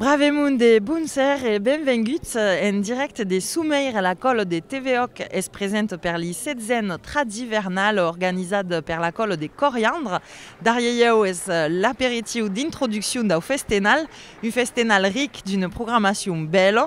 Brave mond de Bonser e benvenguts en dirècte de Someir, la còlo de TVOC es present per li setzèn Tradivernal organizat per la còlo de Coriandre. Darrier ieu es l'aperitiu d'introduccion dau festenal, un festenal ric d'una programacion bèla,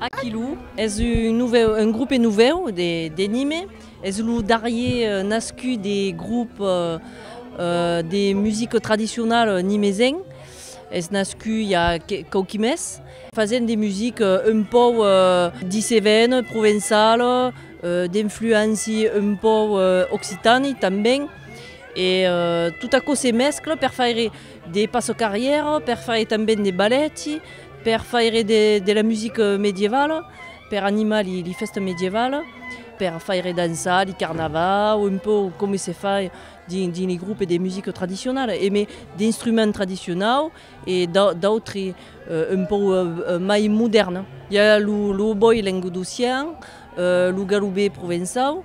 Aquiloo es un novèu, un groupe novèu de de Nîmes, es lo darrier nascut de groupe de musique tradicionale nimesenc, es nascut i a quauqui mes, fasent de musique un pòu dicevèn, provençale, d'influenci un pòu occitani tanben e tot aquò se mescle per faire De passo carrièra per faire tanben de balèti, per faire de la musica medievala, per animar li fèsta medievala, per faire dançar li carnavau, un pauc coma se fa dins li groupes de musica tradicionala, e mai d'instruments tradicionau e d'autri un pauc mai modèrns. I a lo obòi languedocian, lo galobé provençau,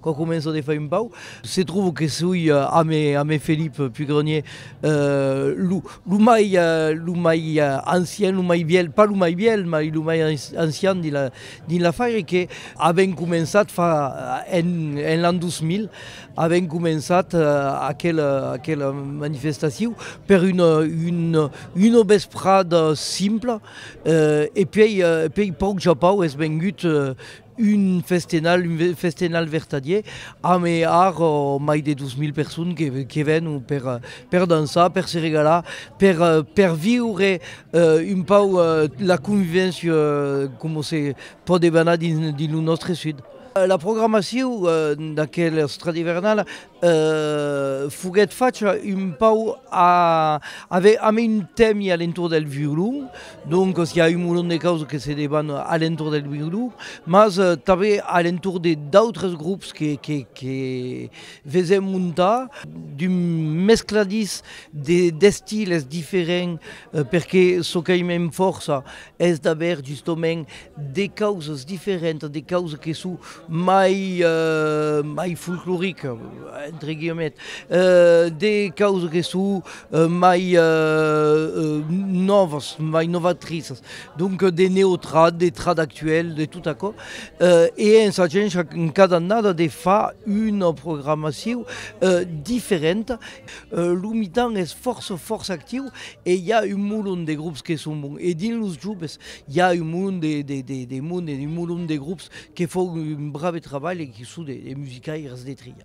Quand començo de fai un pau, se trouve que soi ame Philippe Pugrenier, lo mai ancien, lo mai vièlh, pas lo mai vièlh, mai lo mai ancien dins la fair, e que avèm començat fa en l'an 2000, avèm començat aquela manifestacion per una vesprada simpla, e puèi pauc ja pauc es vengut Un festenal, un festenal vertadier, amb ar mai de 2000 personnes que que ven per per dançar, per se regalar, per per viure un pauc la convivéncia coma se podeba anar dins lo nòstre sud. La programacion d'aquel Stradivernal Foguèt facha un pau a aver a main temi a l'entorn del violon, doncas i a un molon de causas que se deban a l'entorn del violon, mas tanben a l'entorn de d'autres grops que que vesèm montar, d'un mescladís d'estils diferents, perque çò qu'aimem fòrça es d'aver justament de causas diferentas, de causas que son mai mai folcloricas entre guillemets, euh de causas que son mai euh nòvas, mai novatrisas, donc de neotrad, de trad actuel, de tot aquò, euh e en s'agéncia cada annada de far una programacion diferenta Lo mitan es fòrça fòrça actiu e i a un molon de grops que son bons e dins los joves i a un molon de de de de monde un molon de grops que fon un brave trabalh e que son de de musicaires de tria.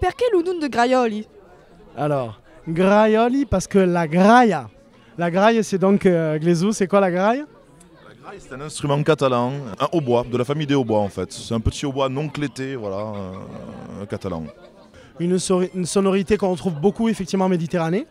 Perqué lo nom de Graiòli? Alors, Graiòli parce que la graia, la graia c'est donc glezou, c'est quoi la graia? La graia c'est un instrument catalan, un hautbois, de la famille des hautbois en fait, c'est un petit hautbois non clété, voilà, catalan. Une sonorité qu'on retrouve beaucoup effectivement en Méditerranée.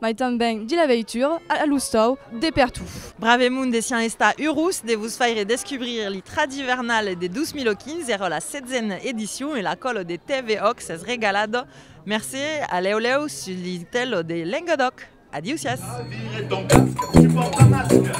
Mai tanben de la veitura a l'ostau de pertot. Bravemun desián estar urós de vos faire descubrir li Tradivernal de 2015, era la setzena edicion e l'acòlo de TVOC s'es regalado. Mercé, a lèu lèu sus li tèlo de Lengadòc. Adiusiás!